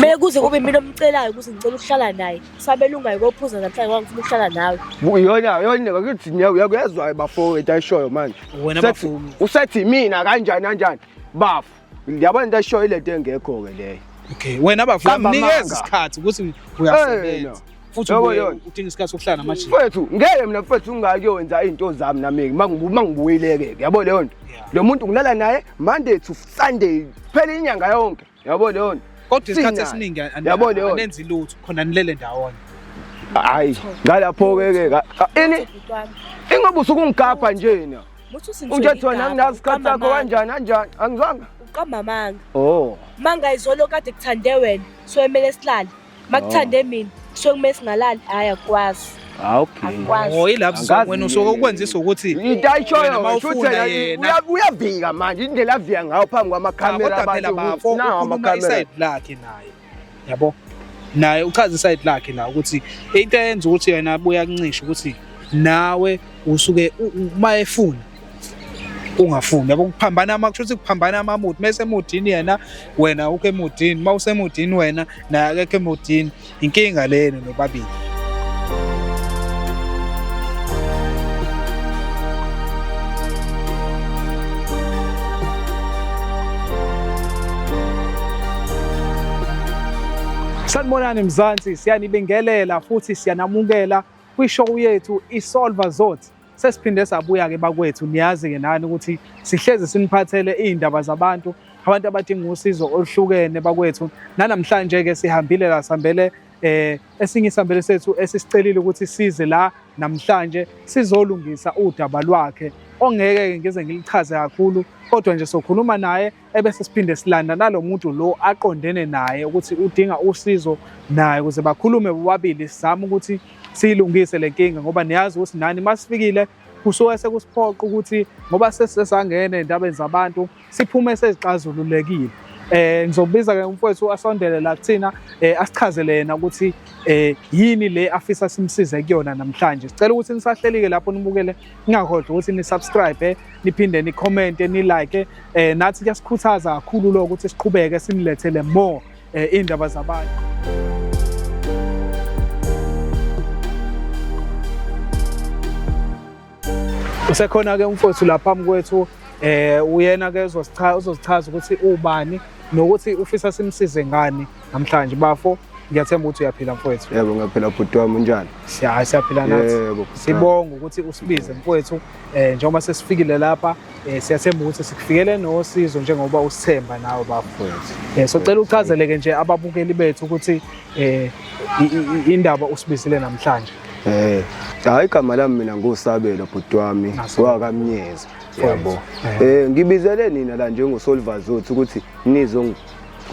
Me kuze kube mina omcelayo ukuthi ngicela ukuhlala naye. Sabelungayo kophuza namhlanje ngoba ngifuna ukuhlala nawe. Uyona yona bakithi nyawo uyakuyezwa bafowethu ayishoyo manje. Wena bafowethu. Usethi mina kanjani kanjani? Bafo. Ngiyabona into ayishoyo ilento engekho ke leyo. Okay, wena bafowethu mnikeza isikhathi ukuthi uyasebenza. futhi udinga isikhathi sokuhlala namajini mfethu ngeke mina mfethu ungakuyokwenza izinto zami nami uma ngibuyileke yabo leyo nto lo muntu ngilala naye monday to sunday phela inyanga yonke yabo leyo nto kodwa isikhathi esiningi anenzi lutho khona nilele ndawonye hayi ngalapho-ke ke ini ingoba usukungigabha nje na unje thona nginazi isikhathi sakho kanjani anjani angizwanga uqamba amanga o oh. manga izolo kade kuthande wena so emele silale makuthande mina kusuke kumele singalali hhayi akwazi Ah, okay. akwazi Oh ilapho Angazi sizokwena usuke yini. ukwenzisa ukuthi Into ayishoyo Wena ngisho ukuthi mawufuna yena yena. uya- uyavika manje indlela avika ngayo phambi Ah, kwamakhamera kodwa phela abantu bafo ukuthi nawo ukhuluma amakhamera isayidi lakhe naye yabo naye uchaza isayidi lakhe la ukuthi into eyenza ukuthi yena abuye akuncishe ukuthi nawe usuke u- u- uma efuna ungafuni yabo kuphambana ama kusho ukuthi kuphambana amamuthi mase emudini yena wena ukho emudini uma usemudini wena naye akekho emudini inkinga lena nobabili Sanibonani Mzansi, siyanibingelela futhi siyanamukela kwishow yethu iSolver Zothe. sesiphinde sabuya-ke bakwethu niyazi-ke nani ukuthi sihlezi siniphathele iy'ndaba zabantu abantu abadinga usizo oluhlukene bakwethu nanamhlanje-ke sihambile la sihambele eh esinye isambele sethu esisicelile ukuthi size la namhlanje sizolungisa udaba lwakhe ongeke ngize ngilichaze kakhulu kodwa nje sokhuluma naye ebese siphinde silanda nalo muntu lo aqondene naye ukuthi udinga usizo naye ukuze bakhulume bobabili sizame ukuthi siyilungise le nkinga ngoba niyazi ukuthi nani uma sifikile kusuke sekusiphoqa ukuthi ngoba sesesangene endabeni zabantu siphume sezixazululekile eh ngizobiza ke umfowethu asondele la kuthina eh asichazele yena ukuthi eh yini le afisa simsize kuyona namhlanje sicela ukuthi nisahlelike lapho nibukele ningakhohlwa ukuthi nisubscribe niphinde nicommente nilike eh nathi kuyasikhuthaza kakhulu lokho ukuthi siqhubeke sinilethele more eh, indaba zabantu usekhona ke umfowethu lapha phambi kwethu eh uyena ke uzosichaza ukuthi ubani nokuthi ufisa simsize ngani namhlanje bafo ngiyathemba ukuthi uyaphila mfowethu yebo ngiyaphila bhuti wami unjani siyahayi siyaphila nathi sibonga ukuthi usibize mfowethu eh njengoba sesifikile lapha eh, siyathemba ukuthi sikufikele nosizo njengoba usithemba nawe bafowethu eh socela uchazeleke nje ababukeli bethu ukuthi eh indaba usibizile namhlanje eh hayi igama lami mina ngusabelo bhuti wami wakamnyeza yabo eh ngibizele nina la njengosolvazothi ukuthi nizo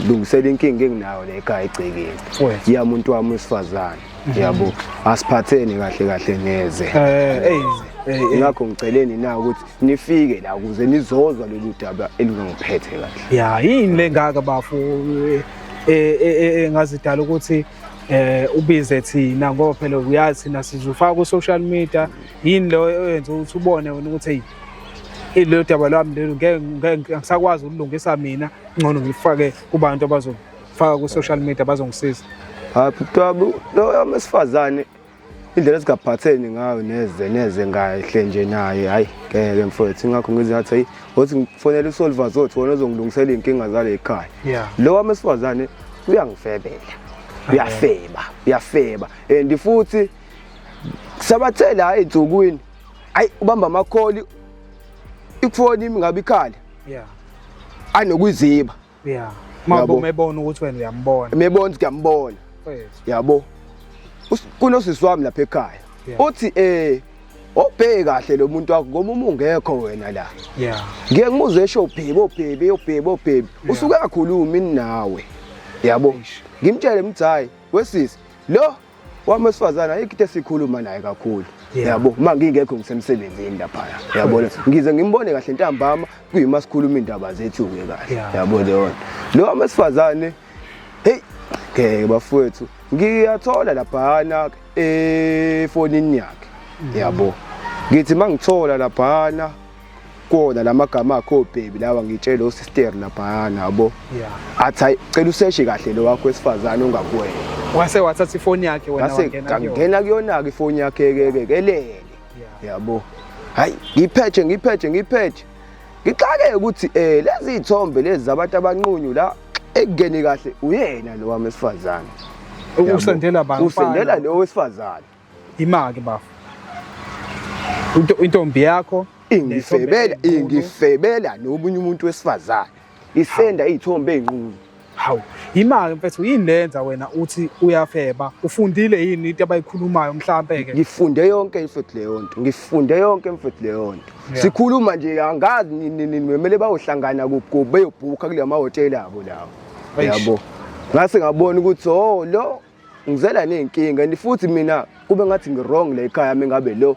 lungisela inkinga enginayo le ekhaya egcekeni Wes. yami umuntu wami wesifazane yabo asiphatheni kahle kahle neze Eh, hey, hey, hey. ngakho ngiceleni na ukuthi nifike la ukuze nizozwa lolu daba elungangiphethe kahle ya yini lengaka bafo eh, eh, eh, eh, ngazidala ukuthi eh ubize thina ngoba phela uyazi thina sizufaka ku social media yini lo oyenza ukuthi ubone wena ukuthi hey ilelo daba lami lelo ngeke ngeke- ngisakwazi ukulungisa mina Ngcono ngifake kubantu abazofaka ku social media bazongisiza. Hayi bhuti lo yamesifazane indlela esigaphatheni ngayo neze neze ngahle nje naye hayi ngeke mfowethu ingakho ngize ngathi hayi wothi ngifonela uSolver zothi wona ozongilungisela inkinga zale ekhaya lo wamesifazane uyangifebela uyafeba uyafeba and futhi sabathela hayi insukwini hayi ubamba amakholi ifoni ingabe ikhala yeah anokuziba yeah mabo umebona ukuthi wena uyambona umebona ukuthi uyambona yabo kunosisi wami lapha ekhaya uthi eh obheke kahle lo muntu wakho ngoba uma ungekho wena la yeah ngeke ngimuzwe esho ubhebe obhebe obhebe obhebe usuke akakhulumi nawe yabo ngimtshele mthayi wesisi lo wami wesifazane ayikho into esikhuluma naye kakhulu yabo uma ngingekho ngisemsebenzini laphaya yabona ngize ngimbone kahle ntambama kuyima sikhuluma indaba zethu-ke kahle yabo leyona lo wami wesifazane heyi ngeke bafowethu ngiyathola laphana efonini yakhe mm. yabo ngithi uma ngithola laphana kona la magama akho obhebi lawa ngitshele osisteri laphayana yabo athi hayi cela useshe kahle lo wakho wesifazane ongakuwena wase wathatha ifoni yakhe wena wangena kuyona ngena kuyona-ke ifoni yakhe-ke kelele yabo hayi ngiphethe ngiphethe ngiphethe ngixakeke ukuthi um lezi y'thombe lezi zabantu abanqunyu la ekungeni kahle uyena lo wami wesifazane usendela usendela lo wesifazane Imake bafo. Into intombi yakho ingifebela ingifebela nomunye umuntu wesifazane. Isenda izithombe ezinqunu. Hawu, imake mfethu yini lenza wena uthi uyafeba? Ufundile yini into abayikhulumayo mhlambe ke? Ngifunde yonke mfethu leyo nto. Ngifunde yonke mfethu leyo nto. Sikhuluma nje angazi nini nini memele bayohlangana kuphi beyobhukha kule mahhotela abo lawo. Yabo. Ngase ngabona ukuthi oh lo ngizela ney'nkinga and futhi mina kube ngathi ngi-wrong la ekhaya yami ngabe lo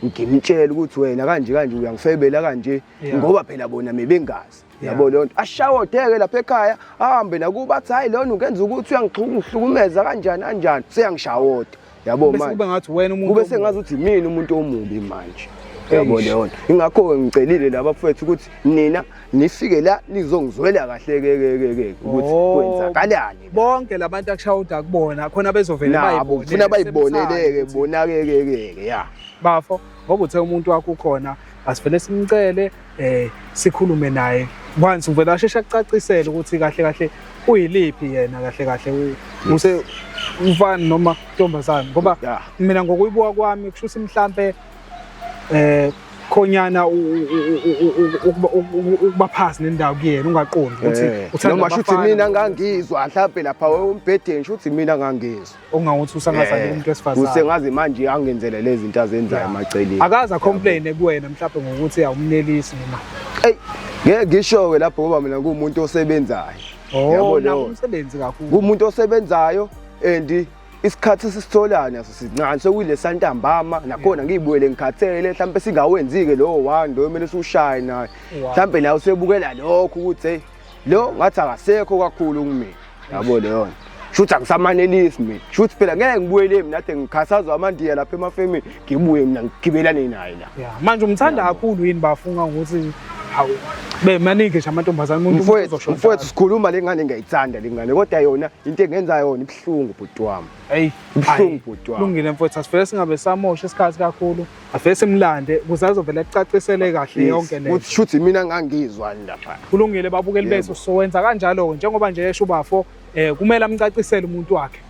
ngimtshela ukuthi wena kanje kanje uyangifebela kanje ngoba phela bona mebengazi yabo leyo nto ashawodeke lapha ekhaya ahambe nakuba athi hhayi lona ungenza ukuthi uyangihlukumeza kanjani kanjani seyangishawoda yabo manjekube sengazi ukuthi mina umuntu omubi manje yabo leyo nto ingakho-ke ngicelile laba fethu ukuthi nina nifike la nizongizwela kahle ke ke ke ke ukuthi oh. kwenzakalani bonke labantu akushaya uda kubona khona bezovela bayibone funa bayiboneleke bona ke ke ke ya bafo ngoba uthe umuntu wakho ukhona asivele simcele eh sikhulume naye once uvela asheshe akucacisele ukuthi kahle kahle uyiliphi yena kahle kahle use umfana noma intombazane ngoba mina ngokuyibuka kwami kusho ukuthi mhlambe eh khonyana ukuba phasi nendawo kuyena ungaqondi ukuthi eh, uthanda noma shuthi mina ngangizwa mhlawumbe lapha umbhedeni shuthi mina ngangizwa ongawuthi usangazani eh, umuntu wesifazane usengazi manje angenzele lezi zinto azenzayo emaceleni akaza complain kuwena mhlawumbe ngokuthi awumnelisi noma ey ngeke ngishowe lapho ngoba mina ngumuntu osebenzayo oh, yabo lo umsebenzi kakhulu kumuntu osebenzayo and isikhathi esisitholayo naso sincane sekuyilesa ntambama nakhona ngiyibuyele ngikhathele mhlawumbe singawenzi-ke lowo one loyo kumele siwushaye naye mhlawumbe naye usebukela lokho ukuthi heyi lo ngathi akasekho kakhulu kumina yabo leyona shuthi angisamanelisi mina shuthi phela ngeke ngibuyele mina ade ngikhathazwa amandiya lapha emafemini ngibuye mina ngigibelane naye la manje umthanda kakhulu yini bafunga ukuthi hawu bemaningi nje amantombazane umuntu mfowethu sikhuluma lengane ngiyayithanda lengane kodwa yona into engenza yona Kubuhlungu bhuti wami. Hey, kubuhlungu bhuti wami. Lungile mfowethu asivele singabe samosha isikhathi kakhulu. Avele simlande kuze azovele acacisele kahle yonke le. Uthi shuthi mina ngangizwa lapha. Kulungile babukeli bethu sowenza kanjalo njengoba nje esho ubafo eh kumele amcacisele umuntu wakhe.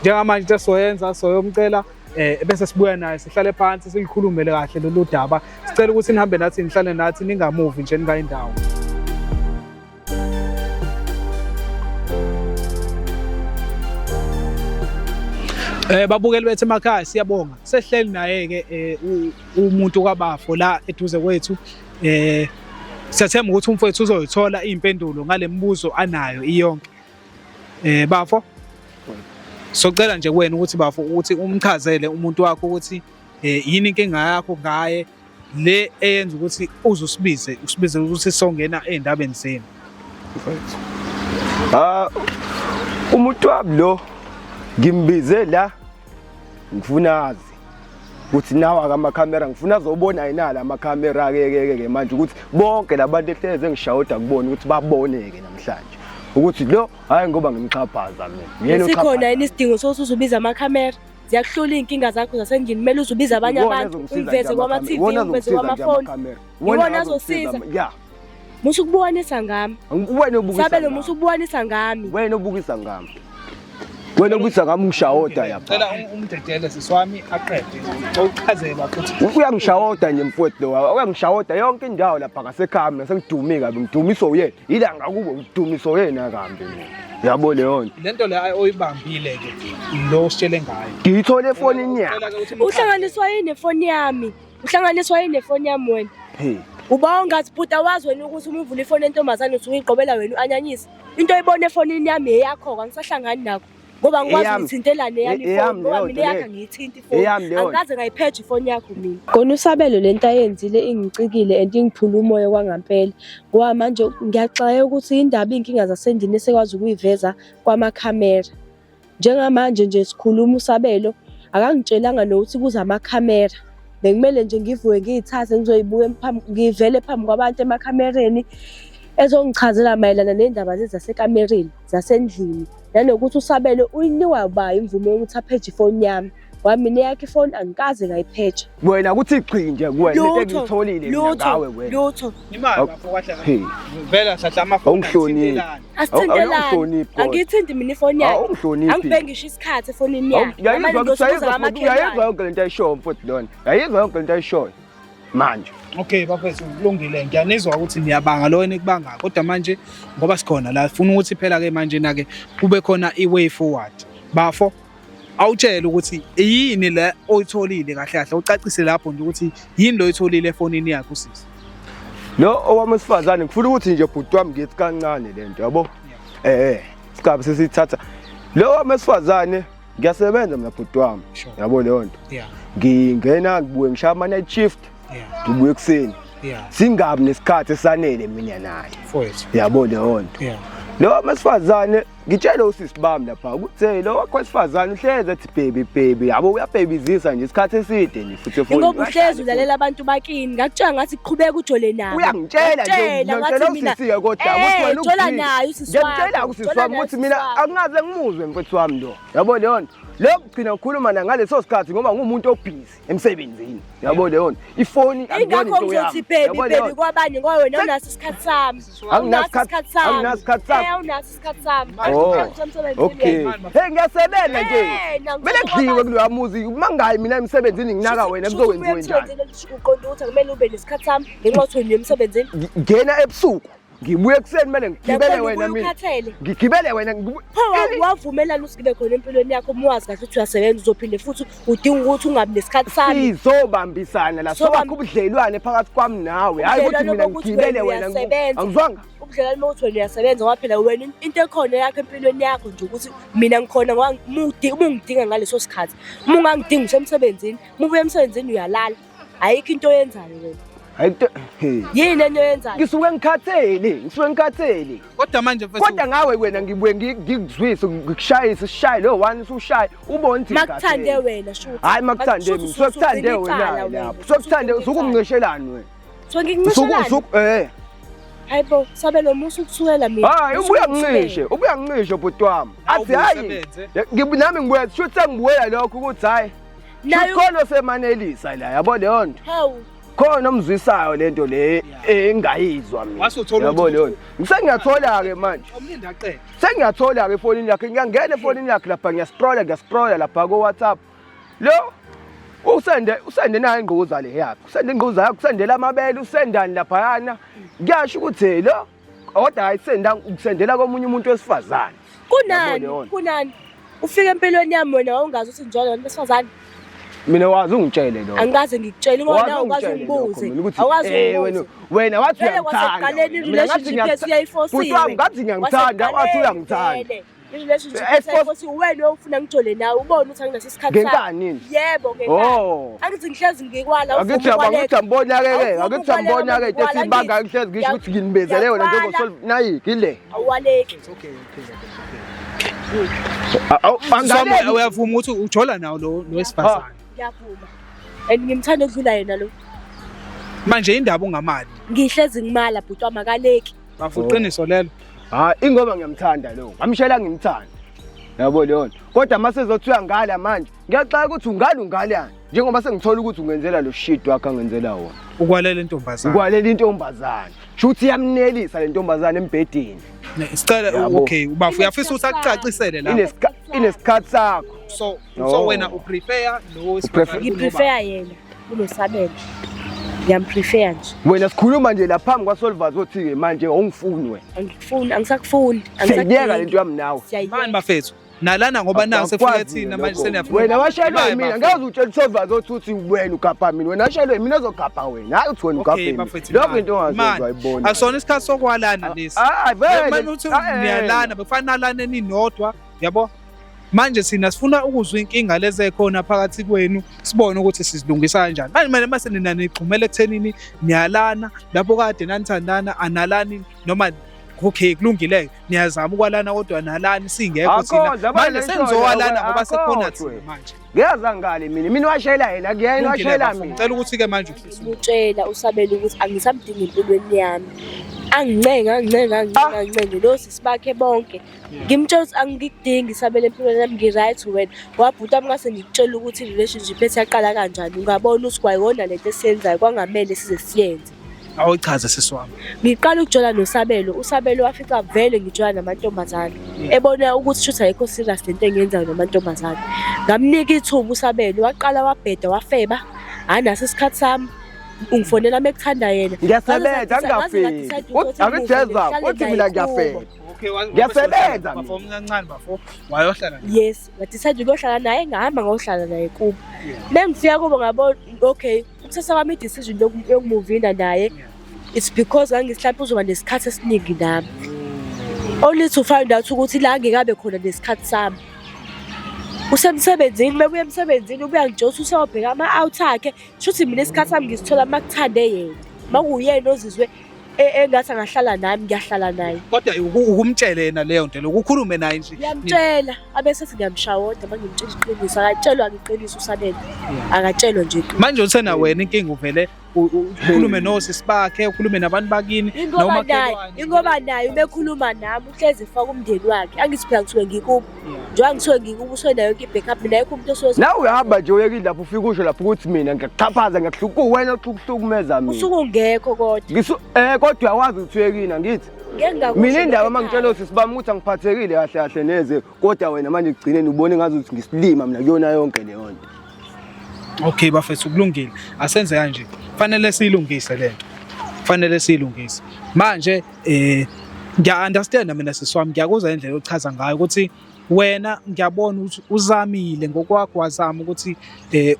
Njengamanje into soyenza soyomcela eh bese sibuya naye sihlale phansi silikhulumele kahle lolu daba. Sicela ukuthi nihambe nathi nihlale nathi ningamuvi nje ningayindawo. Eh babukeli bethu emakhaya siyabonga. Sehleli naye ke eh, umuntu kwabafo la eduze kwethu eh siyathemba ukuthi umfowethu uzoyithola impendulo ngalemibuzo anayo iyonke. Eh bafo socela nje kuwena ukuthi bafo ukuthi umchazele umuntu wakho ukuthi eh yini inkinga yakho ngaye le eyenza ukuthi uze usibize usibize ukuthi songena ey'ndabeni zenu Ah umuntu wami lo ngimbize la ngifuna azi ukuthi nawa kamakhamera ngifuna azobona yena la makhamera ke ke ke manje ukuthi bonke labantu ehleze ngishawuda kubona ukuthi baboneke namhlanje ukuthi lo hayi ngoba ngimxhaphaza mina Yena sikhona uxhaphaza. yini isidingo sokuthi uzubiza amakhamera ziyakuhlola iy'nkinga zakho zasendlini kumele uze ubize abanye Iwona abantu azongisiza ungiveze nje kwama-tv amakamera. Iwona ungiveze azongisiza nje kwamafoni amakamera. Iwona Iwona azongisiza azosiza. ama- ya musa ukubuwanisa ngami wena obukisa sabelo ngami. musa ukubuwanisa ngami wena obukisa ngami wena obukisa ngami ungishawoda yapha Cela um- umdedele sisi wami aqede. Uqhazele bakuthi uyangishawoda nje mfowethu lowa uyangishawoda yonke indawo lapha ngasekhami nasengidumi kabi ngidumiswa uyena yila ngakubo ngidumiswa uyena kambi mina yabo leyo nto lento le oyibambile ke lo sitshele ngayo ngiyithole efonini yakhe uhlanganiswa yini efoni yami uhlanganiswa yini efoni yami wena uba ungathi bhuti awazi wena ukuthi uma uvula ifoni entombazane usuke uyigqobela wena u-anyanyisa into oyibona efonini yami yeyakho-ke angisahlangani nakho ngoba ngikwazi ngithintelane yami ifoni ngoba mina yakhe angiyithinti Eyami leyo. Angikaze ngayiphethe ifoni yakho mina. Khona usabelo lento ayenzile ingicikile and ingiphula umoya kwangampela. Ngoba manje ngiyaxaya ukuthi indaba inkinga zasendini esekwazi ukuyiveza kwamakhamera. Njengamanje nje sikhuluma usabelo akangitshelanga nokuthi kuza amakhamera. Bekumele nje ngivuke ngiyithathe ngizoyibuka ngivele phambi kwabantu emakhamereni ezongichazela mayelana nendaba lezi zasekamereni. zasendlini nanokuthi usabele uyiniwa uba imvume yokuthi apheje ifoni yami ngoba mina eyakhe ifoni angikaze ngayiphetsha wena kuthi gxi nje kuwena into engiyitholile mina ngawe wena lutho imali bafo kwahle Hey. vela sahla amafoni Awungihloniphi. asithintelani awungihloniphi kodwa. angiyithindi mina ifoni yakhe awungihloniphi angibheki ngisho isikhathi efonini yakhe Yayizwa- Ngamane ngiyosukuza yayizwa- amaclean yayizwa yonke lento ayishoyo mfowethu lona yayizwa yonke lento ayishoyo manje okay bafethu kulungile ngiyanizwa ukuthi niyabanga lo enikubanga kodwa manje ngoba sikhona la funa ukuthi phela ke manje na ke kube khona i way forward bafo awutshele ukuthi yini le oyitholile kahle kahle ucacise lapho nje ukuthi yini lo oyitholile efonini yakho sisi lo owami wesifazane ngifuna ukuthi nje bhuti wami ngithi kancane lento yabo eh eh sikabe sesithatha lo owami wesifazane ngiyasebenza mina bhuti wami Sure. yabo leyo nto Yeah. ngingena ngibuye ngishaya ama-night shift Yeah. ngibuye ekuseni Yeah. singabi nesikhathi esanele mina naye Mfowethu. yabo leyo nto Yeah. lo wesifazane ngitshele usisi bami lapha ukuthi hey, lo wakho wesifazane uhleze ethi bhebi bhebi yabo uyabhebizisa nje isikhathi eside nje ingoba uhlezi ulalela abantu bakini ngakutshela ngathi qhubeka ujole nabo uyangitshela ngitshela usisiye kodwa ukuthi wena ujola nayo usisi wami ngitshela usisi wami ukuthi mina akungaze ngimuzwe mfethu wami lo yabo leyo nto lokho kugcina ngikhuluma na ngaleso sikhathi ngoba ngumuntu obhizi emsebenzini yabo leyo nto ifoni akuyona into yami yabo leyo nto kwabanye ngoba wena unaso isikhathi sami anginasikhathi sami anginasikhathi sami eh, isikhathi sami Oh. Umsebenzi okay mina. hey ngiyasebenza nje Eh, nakuthola kumele kudliwe kwabantu. kuloya muzi uma ngayi mina emsebenzini nginaka Shuthi- wena shuthi kuzokwenziwe ubuye njani emsebenzini ukuthi uqonde ukuthi akumele ube nesikhathi sami ngenxa yokuthi wena uye emsebenzini Ngi- ngena ebusuku ngibuye ekuseni kumele ngigibele Lapho wena ubuye mina ukhathele ngigibele wena ngibu- pho Ini- wa- wavumelana ukuthi ngibe khona empilweni yakho uma wazi kahle ukuthi uyasebenza uzophinde futhi udinga ukuthi ungabi nesikhathi sami sizobambisana la Sobamb- sokwakho ubudlelwane phakathi kwami nawe hayi ukuthi Ubudlelwane mina bokuthi ngigibele wena wena ngi- uyasebenza. angizwanga ubudlelwano uma uthi wena uyasebenza ngoba phela wena into ekhona yakho empilweni yakho nje ukuthi mina ngikhona ngoba uma ungidinga ngaleso sikhathi uma ungangidingi usemsebenzini uma ubuya emsebenzini uyalala ayikho into oyenzayo wena Ayikho. Yini enye yenzayo? Ngisuke ngikhathele, ngisuke ngikhathele. Kodwa manje mfethu. Kodwa ngawe wena ngibuye ngikuzwise ngikushayise sishaye lo one usushaye ubone ukuthi Makuthande wena shuthi. Hayi makuthande mina. Sokuthande wena lapho. Sokuthande usukungishelani wena? So ngincishelani? Usuku eh. Hayibo, sabe lo musa ukuthukela mina. Hayi, ubuya ngishe, ubuya ngishe bhuti wami. Athi hayi. Nami ngibuya, sho ukuthi ngibuya lokho ukuthi hayi. Nayo khona semanelisa la, yabo leyo nto. Hawu. Khona omzwisayo lento le engayizwa mina. Wasuthola yabo leyo. Ngisengiyathola ke manje. Omlindi aqede. Sengiyathola ke efonini yakhe, ngiyangena efonini yakhe lapha, ngiyascrolla, ngiyascrolla lapha ko WhatsApp. Lo usende usende nayo ingquza le yakhe. Usende ingquza yakhe, usendela amabele, usendani laphayana. Kuyasho ukuthi lo kodwa ayisenda ukusendela komunye umuntu wesifazane. Kunani? Kunani? Ufike empilweni yami wena wawungazi ukuthi njalo abantu besifazane. Mina wazi ungitshele lo. Angikaze ngikutshele ngoba nawe ukwazi ungibuze. Awazi eh, wena wena wathi uyakuthanda. Mina ngathi ngiyayifosile. Futhi wami ngathi ngiyangithanda, wathi uyangithanda. Nkosi uwena ofuna ngijole nawe ubone ukuthi anginaso isikhathi ngenkanini yebo ngenkanini oh. angithi ngihlezi ngikwala angithi angithi ambona ke ke angithi ambona ke ethi ibanga ngihlezi ngisho ukuthi nginibezele wena njengosolve nayi kile awaleki it's okay okay Angizama uyavuma ukuthi ujola nawo lo wesifazane. Ngiyavuma. And ngimthanda ukudlula yena lo. Manje indaba ungamali. Ngihlezi ngimala bhuti wamakaleki. Bafo iqiniso lelo. Hayi ingoba ngiyamthanda lo. Ngamshela ngimthanda. Yabo leyo nto. Kodwa uma sezothiwa ngala manje ngiyaxaka ukuthi ungale ungalani njengoba sengithola ukuthi ungenzela lo shit wakhe angenzela wona. Ukwalela intombazane. Ukwalela intombazane. Shuthi iyamnelisa le ntombazane embhedeni. Ne- Sicela Yabo. okay ubafo uyafisa ukuthi akucacisele la. Inesikha- Inesikhathi sakho. So No. so wena uprefer lo Prefer- wesifazane kunoba- Ngiprefer yena. kunosabelo ngiyamprefere nje wena sikhuluma nje la phambi kwasolvers othi-ke manje awungifuni wena angikufuni angisakufuni siyayiyeka le nto yami nawe mani bafethu nalana ngoba naku sefika thina manje seniyafuna wena washelwe mina ngeke utshela usolvers othi uthi wena ugabha mina wena washelwe mina ozogabha wena hayi uthi wena ugabhe mina lokho into ongazozwa ibona akusona isikhathi sokwalana lesi ah, ah, manje uthi niyalana bekufanele nalane ninodwa yabo manje sina sifuna ukuzwa inkinga lezi ekhona phakathi kwenu sibone ukuthi sizilungisa kanjani manje manje mase nina nigxumele ekuthenini niyalana lapho kade nanithandana analani noma okay kulungile niyazama ukwalana kodwa nalani singekho thina manje sengizowalana ngoba sekhona thina manje ngiyaza ngale mina mina washayela yena kuyena washayela mina ngicela ukuthi ke manje utshela usabela ukuthi angisamdingi empilweni yami angincenga angincenga angincenga angincenga lo sisibakhe bonke ngimtshela ukuthi angikudingi isabele empilweni yami ngi-right wena wabhuta mna sengikutshela ukuthi i-relationship ethi yaqala kanjani ungabona ukuthi kwayona le nto esiyenzayo kwangamele size siyenze awuchaze sisi wami ngiqala ukujola nosabelo usabelo wafica vele ngijola namantombazane mm. ebona ukuthi shuthi ayikho serious le nto engiyenzayo namantombazane ngamnika ithuba usabelo waqala wabheda wafeba hhayi naso isikhathi sami ungifonela mekuthanda yena ngiyasebenza angingafiki abejeza uthi mina ngiyafeba Okay, wa- Ngiyasebenza bafo mina. omncancane bafo wayohlala naye. yes ngadecide ukuyohlala naye ngahamba ngayohlala naye kubo Yeah. mengifika kubo ngabona okay ukuthatha kwami i-decision yoku- yokumuvinda naye Yeah. it's because ngangisihlapha uzoba nesikhathi esiningi nami only to find out ukuthi la ngikabe khona nesikhathi sami usemsebenzini mebuya emsebenzini ubuya ngijosa usewobheka ama-out akhe shuthi mina isikhathi sami ngisithola uma kuthande yena uma kuyena ozizwe e- engathi angahlala nami ngiyahlala naye kodwa uku- ukumtshele yena leyo nto loku ukhulume naye nje ngiyamtshela abese ethi ngiyamshawoda uma ngimtshela iqiniso akatshelwa ngiqiniso usanele Yeah. akatshelwa nje iqiniso manje usena wena inkinga uvele u- u- ukhulume nosisi bakhe ukhulume nabantu bakini ingoba naye nomakhelwane. ingoba naye ubekhuluma nami uhlezi efaka umndeni wakhe angithi phela ngisuke ngikubo njengoba ngithiwe ngikubuswe nayo yonke i-backup mina yekho umuntu osuke nawe uyahamba nje uyekile lapho ufike usho lapho ukuthi mina ngiyakuxhaphaza ngiyakuhluka uwena oxukuhlukumeza mina usuke ungekho kodwa um kodwa uyawazi ukuthi uyekini angithi mina indaba uma ngitshela usisi bami ukuthi angiphathekile kahle kahle neze kodwa wena manje kugcineni ubone ngazi ukuthi ngisilima mina kuyona yonke leyo nto Okay bafethu kulungile. Asenze kanje. Fanele silungise lento. Fanele silungise. Manje eh ngiya understand mina siswami ngiyakuzwa indlela ochaza ngayo ukuthi wena ngiyabona ukuthi uzamile ngokwakho wazama ukuthi eh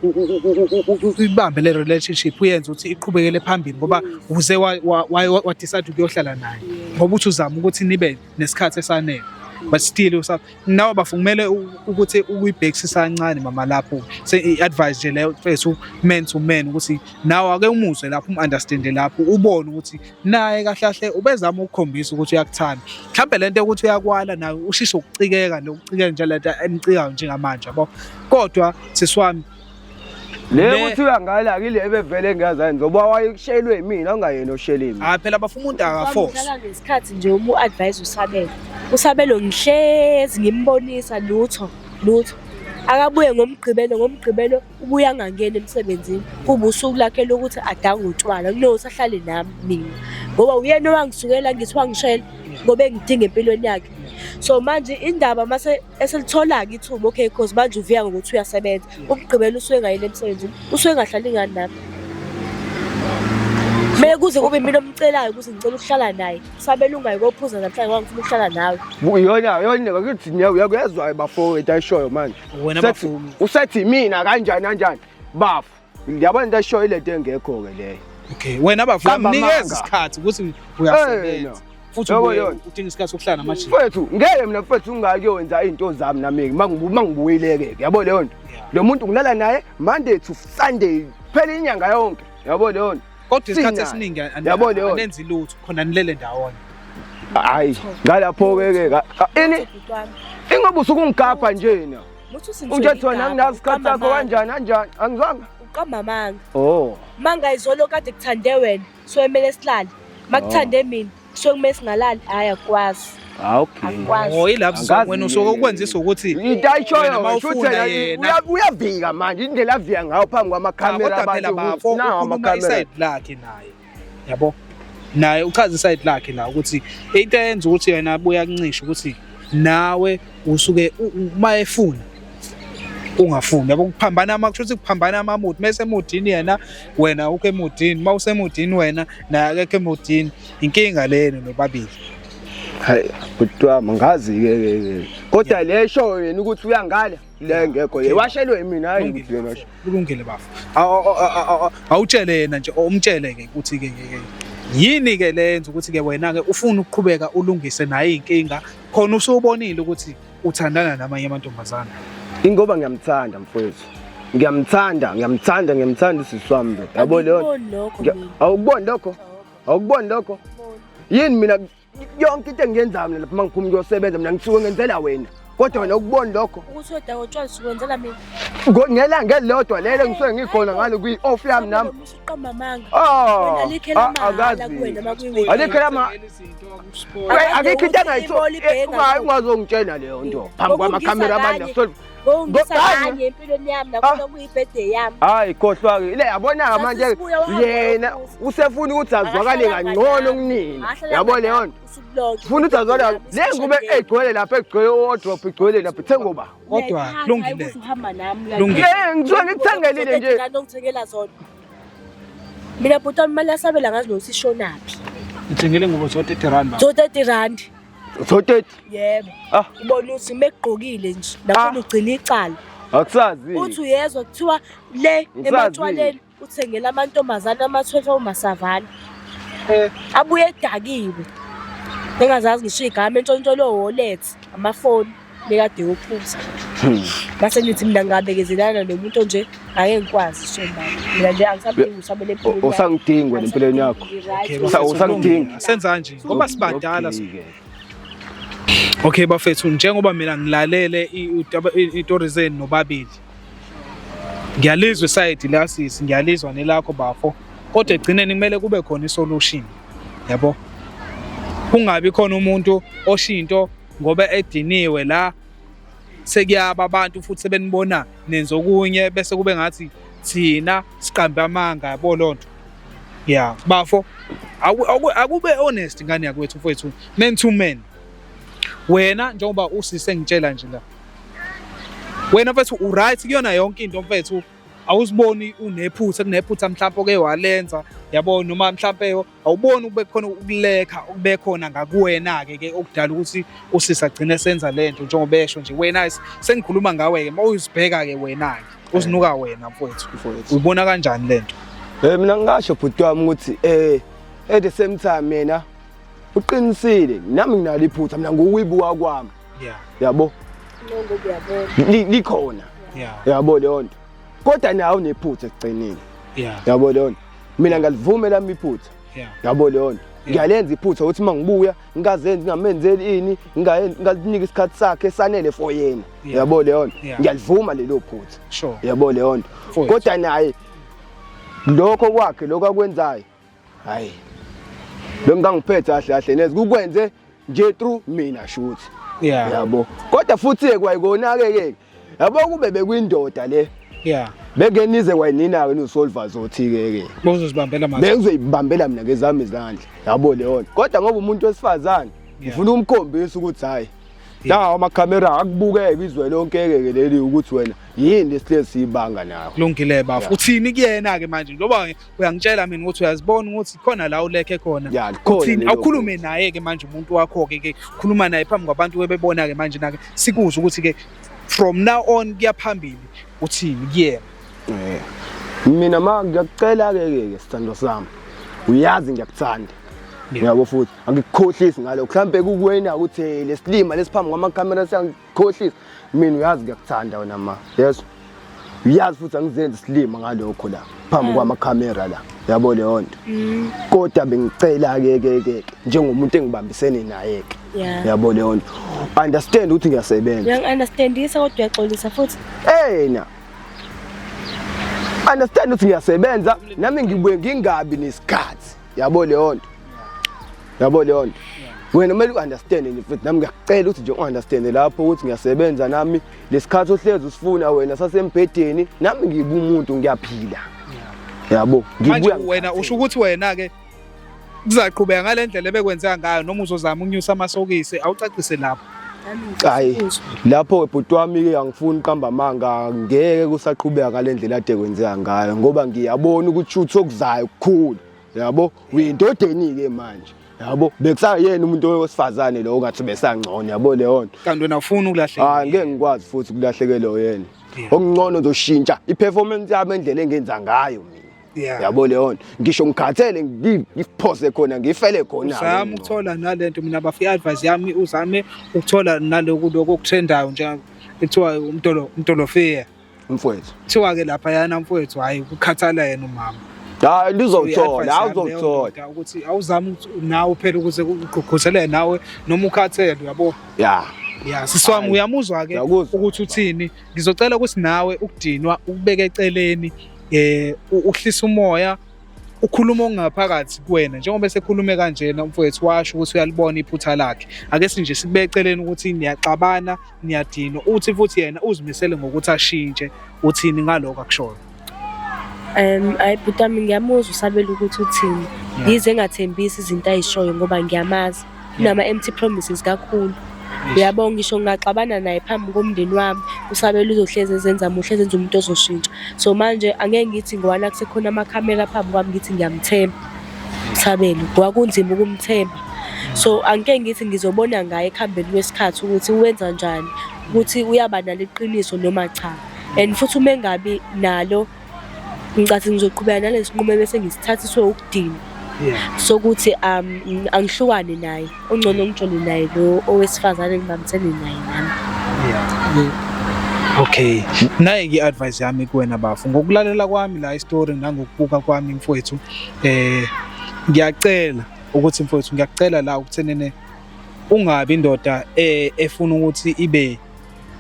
ibambe le relationship uyenze ukuthi iqhubekele phambili ngoba uze wa decide ukuyohlala naye ngoba uthi uzama ukuthi nibe nesikhathi esanele but still nawe bafu kumele ukuthi ukuyibhekisisa kancane mama lapho se-advise nje leyo fesu man to man ukuthi nawe ake umuzwe lapho umu-understande lapho ubone ukuthi naye kahlahle ubezama ukukhombisa ukuthi uyakuthanda mhlawumbe le nto yokuthi uyakwala naye ushise ukucikeka nokucikeka nje le nto emcikayo njengamanje yabo kodwa sisi wami le Be- kuthiwa ngala akile ebevele ngiyazani ngoba wayeshelwe yimina ungayena oshelimi hayi phela bafa umuntu akaforce Ngihlala ngesikhathi nje uma u-advise usabelo usabelo ngihlezi ngimbonisa lutho lutho akabuye ngomgqibelo ngomgqibelo ubuye angangeni emsebenzini kuba usuku lakhe lokuthi adange utshwala kunokuthi ahlale nami mina ngoba uyena owangisukela ngithi wangishela ngoba engidinga empilweni yakhe so manje indaba mase eselithola-ke ithuba okay cause manje uviya ngokuthi uyasebenza umgqibela usuke engayile emsebenzini usuke engahlali ngani nami kumele kuze kube mina omcelayo ukuthi ngicela ukuhlala naye sabela ungayi kophuza namhlanje wangifuna ukuhlala nawe yona yona ngakuthi uyakuyezwayo bafowethu ayishoyo manje usethi mina kanjani kanjani bafo Ngiyabona into eshoyo lento engekho ke leyo. Okay, wena bafuna Qamba mnikeza amanga. isikhathi ukuthi Eh, uyasebenza. no. Futhi Yabo, ubuye yona. udinga isikhathi sokuhlala namajini. Mfethu ngeke mina mfethu ungakuyonza izinto zami nami mangibu mangibuyileke yabo leyo nto. Yeah. Lo muntu ngilala naye Monday to Sunday phela inyanga yonke. Yabo leyo nto. Kodwa isikhathi Sinayo. esiningi an- Yabo leyo. anenzi lutho khona nilele ndawonye. Hayi, ngalapho ke ke. ka- ka- Ini? Bhuti wami. Ingoba usukungigabha nje na. Ujathi wena anginazi isikhathi sakho kanjani anjani angizwanga uqamba amanga oh manga izolo kade kuthande wena so emele silale makuthande oh. mina so kumele singalali hayi akwazi ah, okay oh ilapho wena usuke ukwenzisa ukuthi itayishoyo futhi yena uyavika manje indlela avika ngayo phambi kwamakhamera abantu nawo amakamera lakhe naye yabo naye uchaza iside lakhe la ukuthi into eyenza ukuthi yena abuya kuncisha ukuthi nawe usuke uma efuna ungafuni yabo kuphambana ama kusho ukuthi kuphambana amamuthi mase emudini yena wena ukho emudini uma usemudini wena naye akekho emudini inkinga leni nobabili hayi kuthiwa mangazi ke kodwa lesho yena ukuthi uyangala le ngekho ye washelwe mina hayi ukuthi yena washe kulungile bafo awutshele yena nje umtshele ke ukuthi ke ke yini ke lenza ukuthi ke wena ke ufuna ukuqhubeka ulungise naye inkinga khona usubonile ukuthi uthandana namanye amantombazana ingoba ngiyamthanda mfowethu ngiyamthanda ngiyamthanda ngiyamthanda usisi wami yabo leyo awukuboni lokho awukuboni lokho yini mina yonke into engiyenzayo mina lapha uma ngiphuma ngiyosebenza mina ngisuke ngenzela wena kodwa wena ukuboni lokho ukuthi odawo utshwala sikwenzela mina ngelanga elilodwa lelo ngisuke ngikhona ngalo kwi-off yami nami usuqamba amanga oh alikho lama akikho into angayithola ungazongitshela leyo nto phambi kwamakhamera abantu Ngongisa kanye empilweni yami nakhona ah. kuyibirthday yami. Hayi khohlwa ke. Ile yabona manje yena usefuna ukuthi azwakale kangcono kunina. Yabo leyo nto. Funa ukuthi azwakale. Le ngube egcwele lapha egcwele wardrop igcwele lapha thengoba. Kodwa lungile. Lungile. Ngizwe ngikuthengelile nje. Ngithengela zona. Mina bhuti wami imali yasabela ngazi nokuthi ishonaphi. Ngithengele ngubo zo 30 rand. Zo 30 rand. Thoteti. Yebo. Ah. Ubona uthi mekugqokile nje. Lapho ah. ugcina icala. Akusazi. Uthi uyezwa kuthiwa le ematshwaleni uthengela amantombazana amathwethe omasavana. Eh. Abuye edakiwe. Engazazi ngisho igama entshontsholo wallet amafoni. bekade yophuza hmm. base ngithi mina ngabekezelana nomuntu onje ngeke ngikwazi shemba mina nje angisabuyi usamele empilweni usangidingi wena empilweni yakho usangidingi senza nje ngoba sibadala Okay bafethu njengoba mina ngilalele itori zenu nobabili ngiyalizwa isayidi lasisi ngiyalizwa nelakho bafo kodwa egcineni kumele kube khona isolution yabo kungabi khona umuntu oshinto ngoba ediniwe la sekuyaba abantu futhi sebenibona nenza okunye bese kube ngathi thina siqambe amanga yabo loo nto ya bafo akube honest ngane yakwethu mfowethu men to men wena njengoba usise ngitshela nje la wena mfethu uright kuyona yonke into mfethu awuziboni unephutha kunephutha mhlawumbe oke walenza yabo noma mhlawumbe awuboni ukube khona ukulekha okube khona ngakuwena-ke ke okudala ukuthi usisa agcine senza le nto njengoba esho nje wena sengikhuluma ngawe-ke uma uzibheka-ke wena-ke uzinuka wena mfowethu uyibona kanjani le nto um mina ngingasho bhuti wami ukuthi um at the same time mina uqinisile nami nginalo iphutha mina ngukuyibuka kwami yabo likhona yabo leyo nto kodwa nawe unephutha ekugcinile yabo leyo nto mina ngalivuma lami iphutha yabo leyo nto ngiyalenza iphutha ukuthi uma ngibuya ngikazenzi ngingamenzeli ini ngalinika isikhathi sakhe sanele for yena yabo leyo nto ngiyalivuma lelo phutha yabo leyo nto kodwa naye lokho kwakhe lokho akwenzayo hayi lo mntu angiphethe kahle kahle neze kukwenze nje through mina shuthi yabo kodwa futhi-ke kwayikonake-ke yabo kube bekwindoda le yeah beke nize wayinina ke nosolva zothi ke ke bozozibambela manje bengizoyibambela mina ngezami izandla yabo leyo kodwa ngoba umuntu wesifazane ngifuna ukumkhombisa ukuthi hayi la amakhamera akubukeke izwe lonke ke ke leli ukuthi wena yini lesihlezi sibanga nawe kulungile bafo uthini kuyena ke manje ngoba uyangitshela mina ukuthi uyazibona ukuthi khona la ulekhe khona Ya, likhona uthini lelo awukhulume naye ke manje umuntu wakho ke ke khuluma naye phambi kwabantu webebona ke manje nake sikuzwe ukuthi ke from now on kuyaphambili uthini kuyena Eh. mina ma ngiyakucela ke ke ke sithando sami uyazi ngiyakuthanda Yeah. uyabo futhi angikukhohlisi ngalo mhlampe kukuwena ukuthi eh, lesilima lesiphambi kwamakamera siyangi khohlisa mina uyazi ngiyakuthanda wena ma yeso uyazi futhi angizenzi silima ngalokho la phambi mm. kwamakhamera la yabo leyo nto mm. kodwa bengicela ke ke ke njengomuntu engibambisene naye ke yabo leyo nto understand ukuthi ngiyasebenza ngiyangiunderstandisa kodwa uyaxolisa futhi hey na understand ukuthi ngiyasebenza nami ngibuye ngingabi nesikhathi yabo leyo nto yabo leyo nto wena kumele u-understande nje mfethu nami ngiyakucela ukuthi nje u-understande lapho ukuthi ngiyasebenza nami lesikhathi ohlezi usifuna wena sasembhedeni nami ngibe umuntu ngiyaphila yabo manje wena usho ukuthi wena ke kuzaqhubeka ngalendlela ebekwenzeka ngayo noma uzozama unyusa amasokisi awucacise lapho Hayi lapho webhuti wami ke angifuni qamba manga ngeke kusaqhubeka ngalendlela ade kwenzeka ngayo ngoba ngiyabona ukuthi uthi okuzayo kukhulu yabo uyindodeni ke manje yabo bekusayena umuntu wesifazane lo ongathi besangcono yabo leyo nto kanti wena ufuna ukulahleka hayi ah, ngeke ngikwazi futhi ukulahlekelwa yena okuncono uzoshintsha i-performance yami endlela engenza ngayo mina Yeah. yabo leyo nto ngisho ngikhathele ngi- ngiphoze khona ngifele khona uzame ukuthola nalento mina bafu i-advice yami uzame ukuthola naloku lokhu okutrendayo njenga kuthiwa umtolo umtolofeya mfowethu kuthiwa-ke laphayana mfowethu hhayi kukhathala yena umama hayi lizokuthola hayi uzokuthola ukuthi awuzami ukuthi nawe phela ukuze kugqugquzeleke nawe noma ukhathele yabo ya ya sisi wami Hayi. uyamuzwa-ke Ngiyakuzwa. ukuthi uthini ngizocela ukuthi nawe ukudinwa ukubeka eceleni eh uhlisa umoya ukhuluma ongaphakathi kuwena njengoba esekhulume kanjena umfowethu washo ukuthi uyalibona iphutha lakhe ake sinje sikubeke eceleni ukuthi niyaxabana niyadinwa uthi futhi yena uzimisele ngokuthi ashintshe uthini ngaloko akushoyo Um ayi bhuti wami ngiyamuzwa usabela ukuthi uthini. Yize engathembisi izinto ayishoyo ngoba ngiyamazi. Unama-empty promises kakhulu. Uyabo ngisho ngingaxabana naye phambi komndeni wami usabela uzohlezi ezenza muhle ezenza umuntu ozoshintsha. So manje angeke ngithi ngowana kusekhona amakhamera phambi kwami ngithi ngiyamthemba usabela ngoba kunzima ukumthemba. So angike ngithi ngizobona ngaye ekuhambeni kwesikhathi ukuthi wenza njani, ukuthi uyaba nalo iqiniso noma cha. and futhi uma engabi nalo ngicathi ngizoqhubeka nalesinqumo bese ngisithathiswe ukudina sokuthi um angihlukane naye ungcono ngijole naye lo owesifazane ngibambisene naye nami okay naye ke advice yami kuwena bafu ngokulalela kwami la istory nangokubuka kwami mfowethu eh ngiyacela ukuthi mfowethu ngiyacela la ukuthenene ungabi indoda eh, efuna ukuthi ibe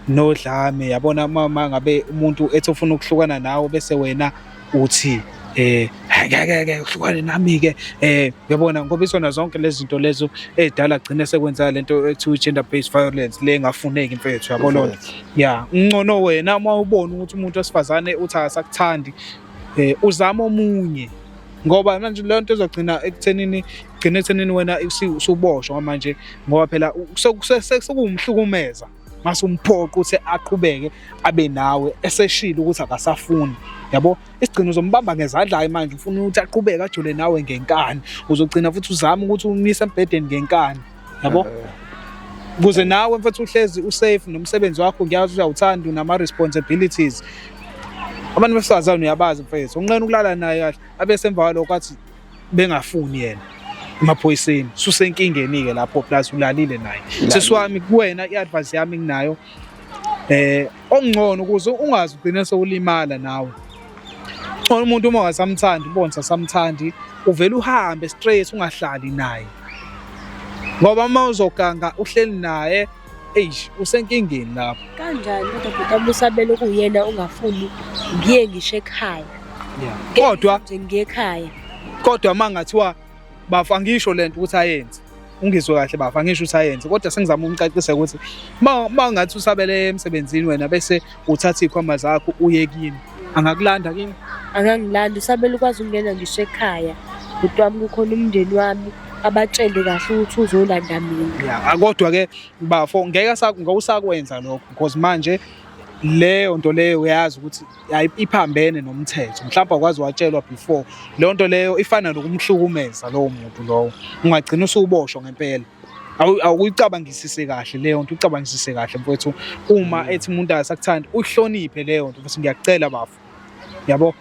nodlame yabona uma uma ngabe umuntu ethi ufuna ukuhlukana nawe bese wena uthi eh ngeke ke uhlukane nami ke eh uyabona ngoba isona zonke lezi zinto lezo ezidala gcine sekwenza lento ekuthiwa gender based violence le ngafuneki mfethu yabo lona ya uncono wena uma ubona ukuthi umuntu wesifazane uthi akasakuthandi eh uzama omunye ngoba manje leyo nto izogcina ekuthenini gcina ekuthenini wena usuboshwa manje ngoba phela sekuwumhlukumeza mase umphoqa ukuthi aqhubeke abe nawe eseshilo ukuthi akasafuni yabo isigcino uzombamba ngezadlayo manje ufuna ukuthi aqubeke ajole nawe ngenkani uzogcina futhi uzama ukuthi umise embhedeni ngenkani yabo kuze nawe mfethu uhlezi usafe nomsebenzi wakho ngiyazi uyawuthanda unama responsibilities abantu besifazane uyabazi mfethu unqena ukulala naye kahle abe semva kwalokho athi bengafuni yena emaphoyiseni susenkingeni-ke lapho plus ulalile naye sesiwami kuwena i-advice yami nginayo eh okungcono ukuze ungazi ugcine sewulimala nawe ngcono umuntu uma wasamthandi ubona sasamthandi uvela uhambe straight ungahlali naye ngoba uma uzoganga uhleli naye eish usenkingeni lapho kanjani kodwa bhuti amusabela ukuyena ungafuni ngiye ngisho ekhaya kodwa nje ngiye ekhaya kodwa uma ngathiwa Bafu angisho lento ukuthi ayenze. Ungizwe kahle bafu angisho ukuthi ayenze kodwa sengizama ukumcacisa ukuthi uma ngathi usabele emsebenzini wena bese uthatha ikhwama zakho uye kimi. Angakulanda kimi? Angangilanda usabele ukwazi ukungena ngisho ekhaya. Bhuti wami kukhona umndeni wami abatshele kahle ukuthi uzolanda mina. Yeah, kodwa ke bafo ngeke ngawusakwenza lokho because manje leyo nto leyo uyazi ukuthi iphambene nomthetho mhlawumbe akwazi watshelwa before leyo nto leyo ifana nokumhlukumeza lowo muntu lowo ungagcina usuboshwa ngempela awuyicabangisise kahle leyo nto ucabangisise kahle mfowethu uma mm. ethi umuntu asakuthandi uhloniphe leyo nto futhi ngiyakucela bafo yabo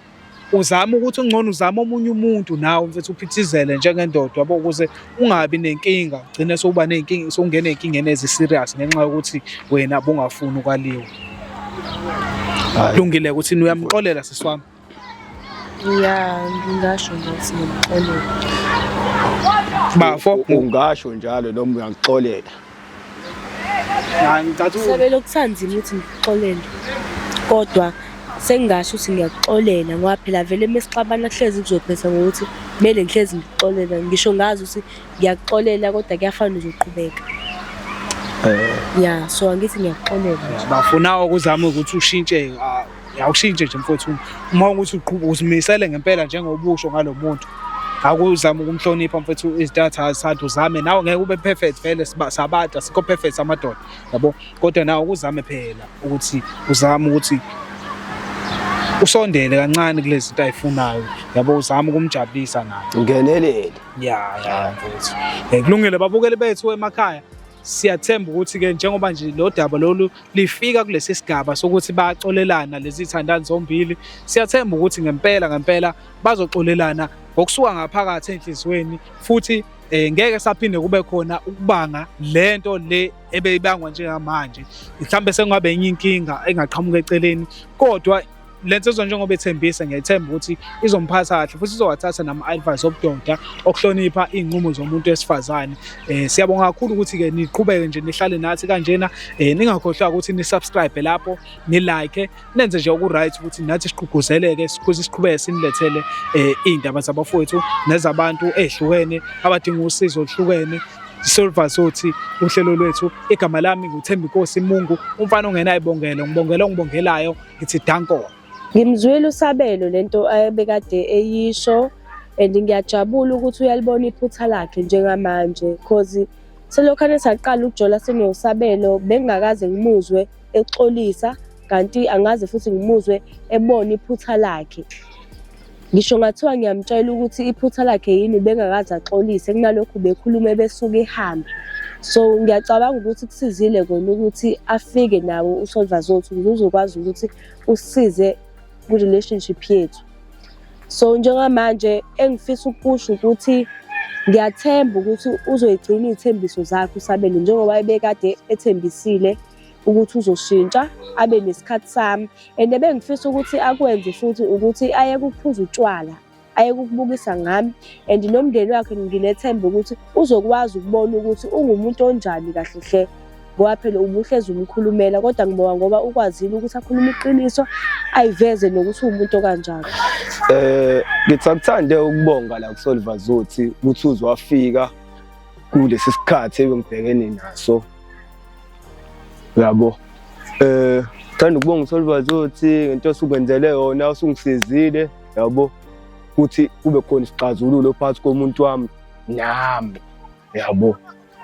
uzama ukuthi ungcono uzama omunye umuntu nawe mfethu uphithizele njengendoda yabo ukuze ungabi nenkinga ugcine sokuba nenkinga sokungena enkingeni ezi serious ngenxa yokuthi wena bungafuni ukwaliwa lungile ukuthi uyamxolela siswami ya ngingasho ngokuthi ngimxolela bafo ungasho njalo noma uyaxolela Sebele okusanzima ukuthi ngikuxolele kodwa sengingasho ukuthi ngiyakuxolela ngoba phela vele uma sixabana kuhlezi kuzophetha ngokuthi kumele ngihlezi ngikuxolela ngisho ngazi ukuthi ngiyakuxolela kodwa kuyafana uzoqhubeka eh. ya so angithi ngiyakuxolela bafuna ukuzama ukuthi ushintshe Awushintshe nje mfowethu uma ukuthi uqhuba uzimisele ngempela njengobusho ngalo muntu akuzama ukumhlonipha mfethu izitatha azithanda uzame nawe ngeke ube perfect vele sabada sikho perfect amadoda yabo kodwa nawe ukuzame phela ukuthi uzame ukuthi usondele kancane kulezi zinto ayifunayo yabo uzama ukumjabulisa naye ungenelele ya ya mfethu eh, kulungile babukeli bethu emakhaya Siyathemba ukuthi-ke njengoba nje lo daba lolu lifika kulesi sigaba sokuthi bayaxolelana lezi zithandani zombili, siyathemba ukuthi ngempela ngempela bazoxolelana ngokusuka ngaphakathi enhliziyweni futhi eh ngeke saphinde kube khona ukubanga lento le ebeyibangwa njengamanje mhlambe sekungabe enye inkinga engaqhamuka eceleni kodwa le nsizwa njengoba ethembisa ngiyethemba ukuthi izomphatha kahle futhi izowathatha nama-advice obudoda okuhlonipha iy'nqumo zomuntu wesifazane um siyabonga kakhulu ukuthi-ke niqhubeke nje nihlale nathi kanjena um ningakhohlwa ukuthi nisubscribe lapho nilike nenze nje oku-right ukuthi nathi siqhuguzeleke futhi siqhubeke sinilethele um iy'ndaba zabafowethu nezabantu ey'hlukene abadinga usizo oluhlukene Silver Sothi uhlelo lwethu igama lami nguThembi Nkosi Mungu umfana ongenayibongelo ngibongela ongibongelayo ngithi danko ngimzwile usabelo lento ebekade eyisho and ngiyajabula ukuthi uyalibona iphutha lakhe njengamanje cause selokhane saqala ukujola senosabelo bengingakaze ngimuzwe exolisa kanti angazi futhi ngimuzwe ebona iphutha lakhe Ngisho ngathiwa ngiyamtshela ukuthi iphutha lakhe yini ubengakaze axolise kunalokhu bekhulume besuke ihambe. So ngiyacabanga ukuthi kusizile kona ukuthi afike nawo uSolva Zothu ukuze uzokwazi ukuthi usize kwi-relationship yethu. So njengamanje engifisa ukusho ukuthi ngiyathemba ukuthi uzoyigcina iy'thembiso zakhe uSabelo njengoba ebekade ethembisile. ukuthi uzoshintsha abe nesikhathi sami and ebengifisa ukuthi akwenze futhi ukuthi aye kuphuza utshwala aye kukubukisa ngami and nomndeni wakhe nginethemba ukuthi uzokwazi ukubona ukuthi ungumuntu onjani kahle hle ngoba phela ubuhlezi umkhulumela kodwa ngibonga ngoba ukwazile ukuthi akhulume iqiniso ayiveze nokuthi uwumuntu okanjani eh ngithi akuthande ukubonga la kuSoliver Zothi ukuthi uzwafika kulesi sikhathi ebengibhekene naso yabo eh thanda ukubonga uSolvazi othi ngento osukwenzele yona usungisizile yabo ukuthi kube khona isixazululo phakathi komuntu wami nami yabo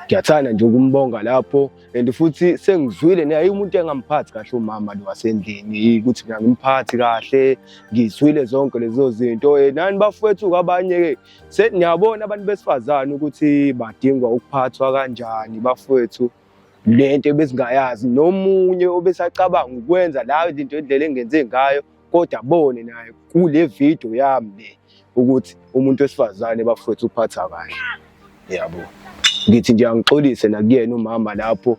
ngiyathanda nje ukumbonga lapho and futhi sengizwile naye umuntu engamphathi kahle umama lo wasendlini ukuthi mina ngimphathi kahle ngizwile zonke lezo zinto eh, nani bafowethu kwabanye-ke Seniyabona abantu besifazane ukuthi badingwa ukuphathwa kanjani bafowethu lento ebesingayazi nomunye obesacabanga ukwenza layo izinto indlela engenze ngayo kodwa abone naye kule video yami le ukuthi umuntu wesifazane bafowethu uphatha kahle yabo ngithi nje angixolise nakuyena umama lapho